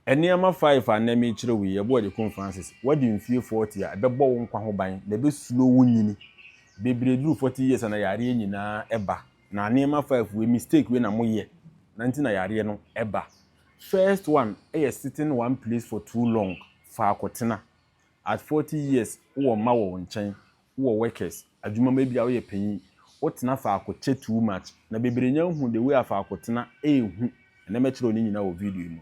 Nneɛma five a nnɛ merekyerɛ wo yi, ɛboa Adekun Francis. Woadi mfie forty a, ɛbɛbɔ wo nkwa ho ban, na ɛbɛ slow wo nyini. Bebree duru forty years a na yareɛ nyinaa ɛba. Na nneɛma five wei, mistake wei na mo yɛ, na nti na yareɛ no ɛba. First one ɛyɛ sitting one place for too long, faako tena. At forty years, wo wɔ mma wɔ wo nkyɛn, Wowɔ workers adwuma mu ebia woyɛ panyin wotena faako kyɛ too much na bebree nya hu the way a faako tena ɛyɛ hu ɛnɛ mɛkyerɛw ne nyinaa wɔ video yi mu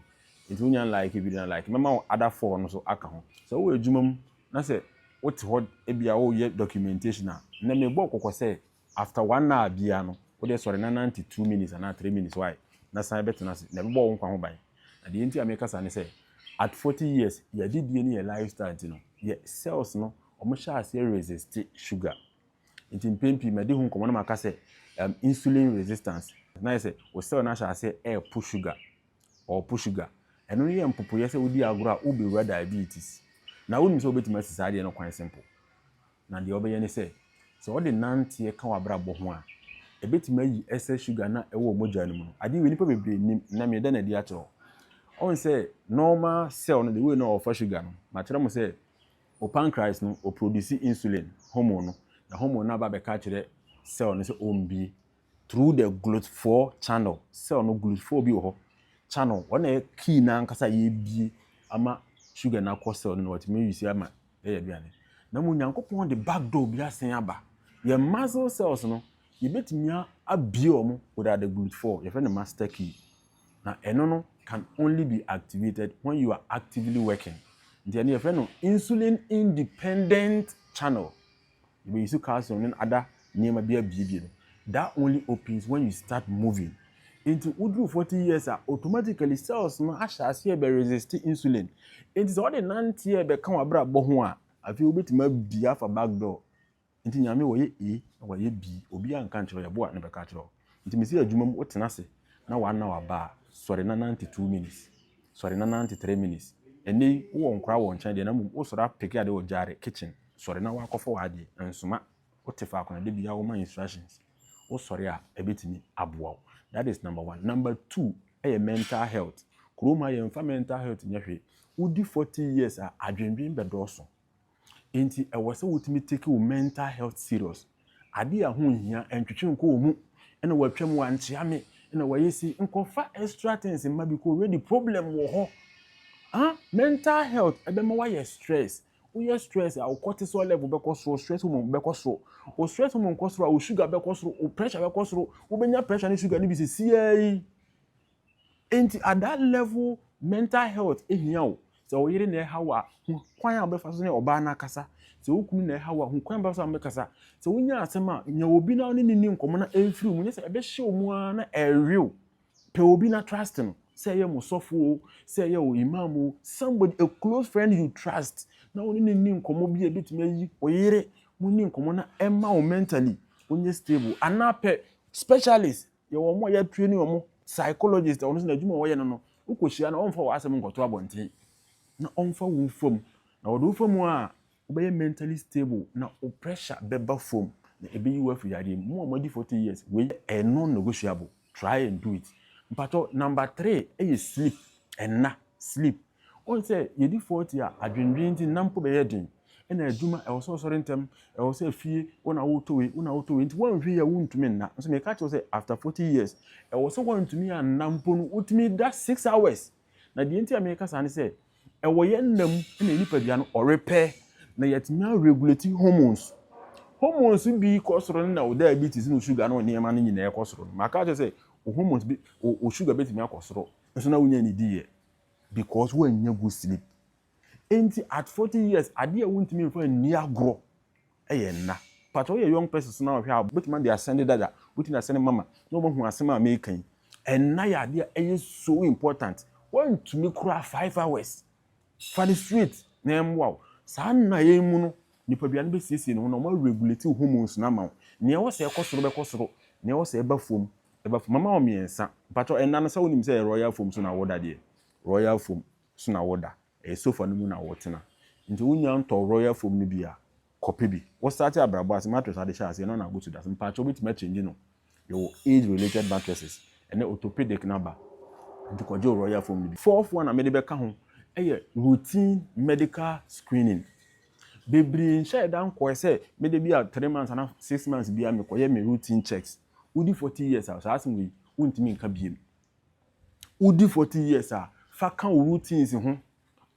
nti wonya n like video no a like mɛma wo other four no so aka ho sɛ wowɔ adwuma mu na sɛ wote hɔ ebia woyɛ documentation a ɛnɛ mebɔ wo kɔkɔ sɛ After one hour biaa no wodeɛ sɔre na nante two minutes anaa three minutes why? Na san bɛtena ase. Na ɛbɛbɔ wo nkwa ho ban. Na deɛ nti a meka saa ne sɛ at forty years yɛn adidie ne yɛn life style nti no yɛ cells no ɔmo hyɛ aseɛ resiste sugar. Nti mpɛn pii madi ho nkɔmmɔ na maka sɛ um insulin resistance. Na ayɛ sɛ wo cell no ahyɛ aseɛ ɛɛpo sugar, ɔɔpo sugar. Ɛno no yɛ mpopoeɛ sɛ wodi agorɔ a wobewura diabetes. Na wonim sɛ wobɛtumi asi saa adeɛ no kwan simple. na deɛ ɔbɛyɛ ne sɛ, sɛ ɔde nanteɛ ka w'abrabɔ ho a, ɛbɛtumi ayi ɛsɛ sugar no a ɛwɔ mogya no mu no. Adeɛ wei nnipa bebree nnim, ɛnnɛ mereda no adi akyerɛ wo. Ɔhu sɛ normal cell no, the way no a ɔfa sugar no, makyerɛ mo sɛ wo pancreas no, ɔproduce insulin, hormone no, na hormone no aba abɛka akyerɛ cell no sɛ ɔmmue. through the Glotfoɔ channel, cell no Glotfoɔ bi wɔ hɔ channel wɔn na ɛyɛ key no ankasa a yɛbie ama sugar no akɔ cell no na wɔatumi use ama ɛyɛ aduane na mmom Nyankopɔn de back door bi asen aba yɛn muscle cells no yɛbɛtumi abie wɔn without the Glotfoɔ yɛfrɛ no master key na ɛno no can only be activated when you are actively working nti ɛno yɛfrɛ no insulin independent channel Yɛbɛyi so kaa sɛ ɔne ada nneɛma bi abiebie no, that only opens when you start moving. Enti woduru forty years a, automatically cells no ahyɛ aseɛ bɛ resist insulin. Enti sɛ wode nanteɛ rebɛka w'abrabɔ ho a, afei wobɛtumi abie afa back door. Enti Nyame wɔyɛ A na wɔayɛ B, obiara nka nkyerɛ wo, yɛboa na bɛka akyerɛ wo. Nti me se adwuma mu wo tena ase na wa na waba a sɔre na nante two minutes sɔre na nante three minutes ɛnɛ yi wo wɔ nkora wɔ nkyɛn deɛ na mmom wo sɔre a peke ade wɔ gyare kitchen sɔre na wa kɔfa w'adeɛ nsoma wo te faako na dabi a wo ma instructions wo sɔre a ɛbɛtumi aboa wo that is number one number two ɛyɛ mental health kurom ha yɛnfa mental health nyɛ hwee wo di forty years a adwendwen bɛdɔɔso Enti ɛwɔ sɛ wotumi take wo mental health serious. Ade a ho nhia, ntwetwe nkɔ wɔ mu, ɛna watwa mu, wankyea me, ɛna wayɛ sei, nkɔfa extra things mma because already problem wɔ hɔ. Aa mental health ɛbɛma wayɛ stress, woyɛ stress a wo cortisol level bɛkɔ soro, wo stress hormone bɛkɔ soro. Wo stress hormone kɔ soro a wo sugar bɛkɔ soro, wo pressure bɛkɔ soro, wobɛnya pressure ne sugar no bi sɛsiara yi. Enti at that level mental health hia wo. Sɛ wo yere na ɛha wo a, hu kwan a wobɛfa so ne ɔbaa no akasa. Sɛ wo kunu na ɛha wo a, hu kwan a wobɛfa so a mobɛkasa. Sɛ wonya asɛm a, nya obi na wo ne no nni nkɔmmɔ na ɛmfiri wo mu, nyɛ sɛ ɛbɛhyɛ wo mu ara na ɛrewe wo. Pɛ obi na trust no, sɛ ɛyɛ mo sɔfo o, sɛ ɛyɛ wo imam o, somebody, a close friend you trust, na wo ne no nni nkɔmmɔ bi a ɛbɛtumi ayi wo yere, monni nkɔmmɔ na ɛmma wo mentally wonyɛ stable. Anaa pɛ specialist, Yɛwɔ wɔn a yɛatraini wɔn, psychologist, wɔn nso n'adwuma a wɔyɛ no no, wokɔhyia no ɔmfa w'asɛm nkɔto abɔnten na ɔmfa wo fam. Na ɔde wo fa mu a, wobɛyɛ mentally stable na wo pressure bɛba fam na ɛbɛyi wo afiri yadeɛ mu. Mo a moadi 40 years, wei ɛyɛ non negotiable, try and do it. Mpakyɛw, number three yɛ sleep, nna, sleep. Woahu sɛ yɛdi forty a, adwendwen nti nna mpo bɛyɛ den, ɛna adwuma, ɛwɔ sɛ ɔsɔre ntɛm, ɛwɔ sɛ fie, wo na wotɔ wei, wo na wotɔ wei nti woanhwɛ yie a wontumi nna. Nso meka kyerɛ wo sɛ after forty years, ɛwɔ sɛ woantumi anna mpo no wotumi da six hours. Na deɛ nti a meka saa ne sɛ, ɛwɔ yɛn nna mu na yɛn nipadua no ɔrepɛ na yɛatumi a regulate hormones. Hormones bi kɔ soro no na wo diabetes ne wo sugar ne wo nneɛma no nyinaa kɔ soro no. Maka akyerɛ wo sɛ wo hormones bi, wo sugar bɛtumi akɔ soro nso na wonnya nnidiiɛ. Because woannya good sleep. Enti at forty years adeɛ a wontumi mfa nni agorɔ yɛ nna. Pakyɛ woyɛ young persons na wohwɛ a wobɛtumi ade asɛnde dada, wobɛtumi de asɛnde mama na wɔahu asɛm a mereka yi. Nna yɛ adeɛ a ɛyɛ so important. Woantumi koraa five hours. Fa no straight na ɛmmoa wo. Saa nna yɛ yi mu no, nipadua no bɛsiesie ne ho na wɔaregulate wo hormones no ama wo. Nea ɛwɔ sɛ ɛkɔ soro bɛkɔ soro, nea ɛwɔ sɛ ɛba fam Ɛba fam. Mɛma wo mmiɛnsa. Mpakyɛw, ɛnna no sɛ wonim sɛ ɛyɛ Royal Foam so na woda deɛ? Royal Foam so na woda. Ɛyɛ sofa no mu na wotena. Nti wonnya ntɔɔ Royal Foam no bi a, kɔpɛ bi. Wo starte abrabɔ ase, mattress a wode hyɛ aseɛ no na wotu da so. Mpakyɛw, wobɛtumi akyɛngye no. Yɛwɔ age related mattresses. Ɛnnɛ orthopedic no aba. Nti kɔgye wo Royal Foam no bi. Fourth one a mede bɛka ho yɛ routine medical screening. Bebree nhyɛɛ da nkɔɛ sɛ mede bi a three months anaa six months biara mekɔyɛ me routine checks. Wodi forty years a, saa asɛm wei wontumi nka biem. Wodi forty years a, fa ka wo routines ho,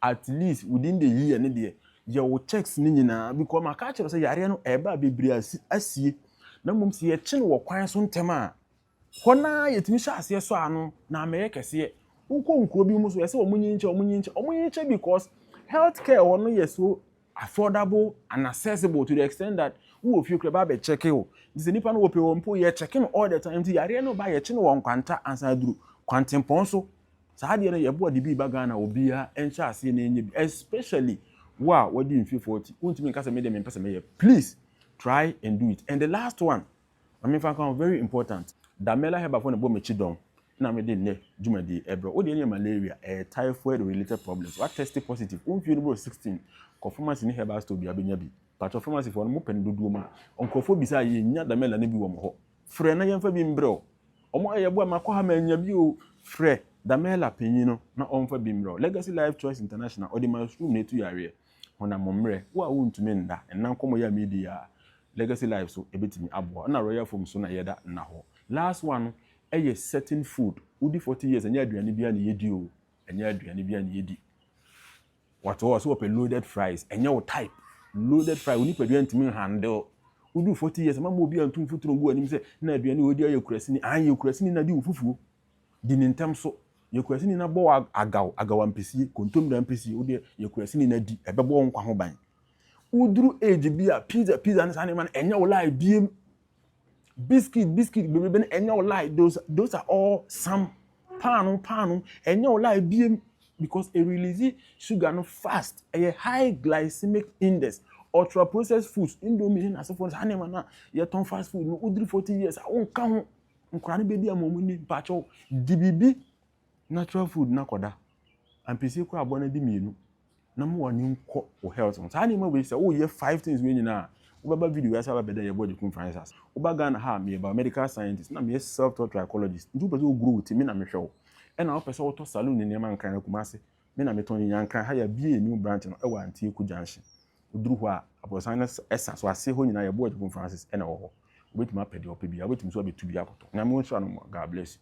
at least within the year no deɛ, yɛ wo checks no nyinaa because maka akyerɛ wo sɛ yareɛ no ɛreba a bebree asi, asie. Na mmom sɛ yɛkye no wɔ kwan so ntɛm a, hɔ no ara yɛtumi hyɛ aseɛ sɔ ano na amɛyɛ kɛseɛ. Wokɔ nkuro bi mu nso, ɛsɛ sɛ wɔnyinkyɛ, wɔnyinkyɛ, wɔnyinkyɛ because health care hɔ no yɛ so affordable and accessible to the extent that wowɔ fie koraa ba bɛ checke wo nti sɛ nipa no wɔpɛ wɔ mpo yɛ checke no all the time nti yareɛ no ba yɛkye no wɔ nkwanta ansa aduru kwantempɔn so saa adeɛ no yɛboa de bi ba Ghana obiara ɛnhyɛ aseɛ na ɛnyɛ bi especially wo a wadi mfe forty wontumi nka sɛ me deɛ mempɛ sɛ mɛyɛ please try and do it and the last one Ma me nfa nka ho, very important. Damela Herbal foɔ na ɛbɔ me kyidɔn na me de nnɛ dwumadie yi ɛbrɛ wo. Wo deɛ ɛnyɛ malaria, ɛyɛ typhoid related problems. Wa test positive, wo mfie no boro 16, kɔ pharmacy ne herbal store biara bɛnya bi. Mpakyɛw pharmacy foɔ no mo pɛ no dodoɔ mu a, nkorɔfoɔ bisa a yɛ nnya Damela no bi wɔ wɔn hɔ. Frɛ na yɛn fa bi mbrɛ wo. Wɔn ɛyɛ boa ma kɔ ha mannya bi oo, frɛ Damela panyin no na ɔnfa bi mbrɛ wo. Legacy Life Choice International, ɔde mushroom na ɛtu yareɛ. Honam mmerɛ, wo a wontumi nna nna nkɔmmɔ yi a meredi yi a Legacy Live so ɛbɛtumi aboa wo. Ɛna Royal Foam so na yɛda nna hɔ. Last one no ɛyɛ certain food. Wodi forty years ɛnyɛ aduane biara na yɛdi o, ɛnyɛ aduane biara na yɛdi. Wate hɔ, sɛ wɔpɛ loaded fries, ɛnyɛ wo type. Loaded fries, wo nipadua ntumi nhandle. Woduru forty years, mma mma obi antu mfuturo ngu w'anim sɛ na aduane wei deɛ ɔyɛ kurasini. Aane, yɛ kurasini na di wo fufuo. Di no ntɛm so. Yɛ kurasini no abɔw agaw, agaw ampesie, kontommire ampesie, wo deɛ yɛ kurasini no adi, ɛbɛbɔ wo nkwa ho ban. Woduru age bi a, pizza, pizza ne saa nneɛma no, ɛnyɛ wo lie biem. Biscuit, biscuit bebrebe no, ɛnyɛ wo lie, those, those are all some. Paano, paano, ɛnyɛ wo lie biem because e release sugar no fast, ɛyɛ high glycemic index. Ultra processed foods, indomie ne n'asefoɔ no, saa nneɛma no a yɛtɔn fast food no, woduru 40 years a, wonka ho. Nkwadaa no bɛdi ama wɔn ni mpakyɛw di biribi natural food na kɔda ampesie kora abɔ no adi mmienu na ma wɔn ani nkɔ wɔ health ho saa nneɛma wei sɛ woyɛ five things wei nyinaa wobɛba video wei ase aba bɛda yɛbɔ de kum francis ase woba Ghana ha meyɛ biomedical scientist na meyɛ self taught trichologist nti wopɛ sɛ wogrow wo ti me na mehwɛ wo ɛna wopɛ sɛ wotɔ saloon ne nneɛma nkran akuma ase Me na metɔn yi. Nyanka, ha yɛabuee new branch no wɔ Antieku Junction. Woduru hɔ a, aborɔsan no sa so. Ase hɔ nyinaa yɛn board Pope Francis na ɛwɔ hɔ. Wobɛtumi apɛ deɛ wopɛ biara. Wobɛtumi nso abɛtu bi akɔtɔ. Nyame nhyira no ma. God bless you.